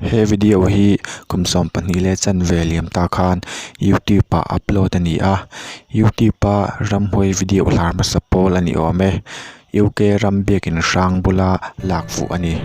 He video hi kum sawm pahnih leh chanveliam ta khan youtube ah upload a ni a youtube a ramhawi video hlar hmasa pawl a ni awm e UK ram biakin hrang bula lak fuh a ni.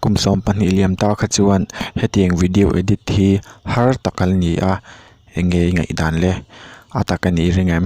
kum sawm pahnih liam tak kha chuan hetiang video edit hi har tak an ni a eng nge i ngaih dan le a tak a nih reng em.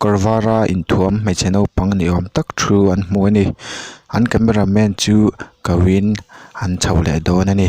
Kawr vara inthuam hmeichhe naupang ni awm tak thu an hmu a ni an camera man chu koin an chho leh dawn a ni.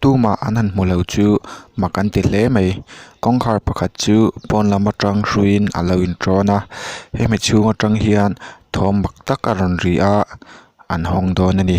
Tuma an han hmu lo chu mak an ti hle mai kawngkhar pakhat chu pawn lam atang hruiin a lo in ṭawn a hemi chhung atang hian thawm mak tak a rawn ri a an hawng dawn a ni.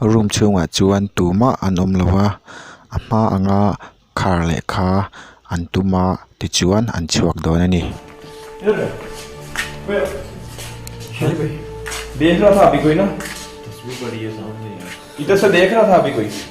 Room chhungah chuan tumah an awm lo a, a hma anga khar leh kha an tum a tichuan an chhuak dawn a ni.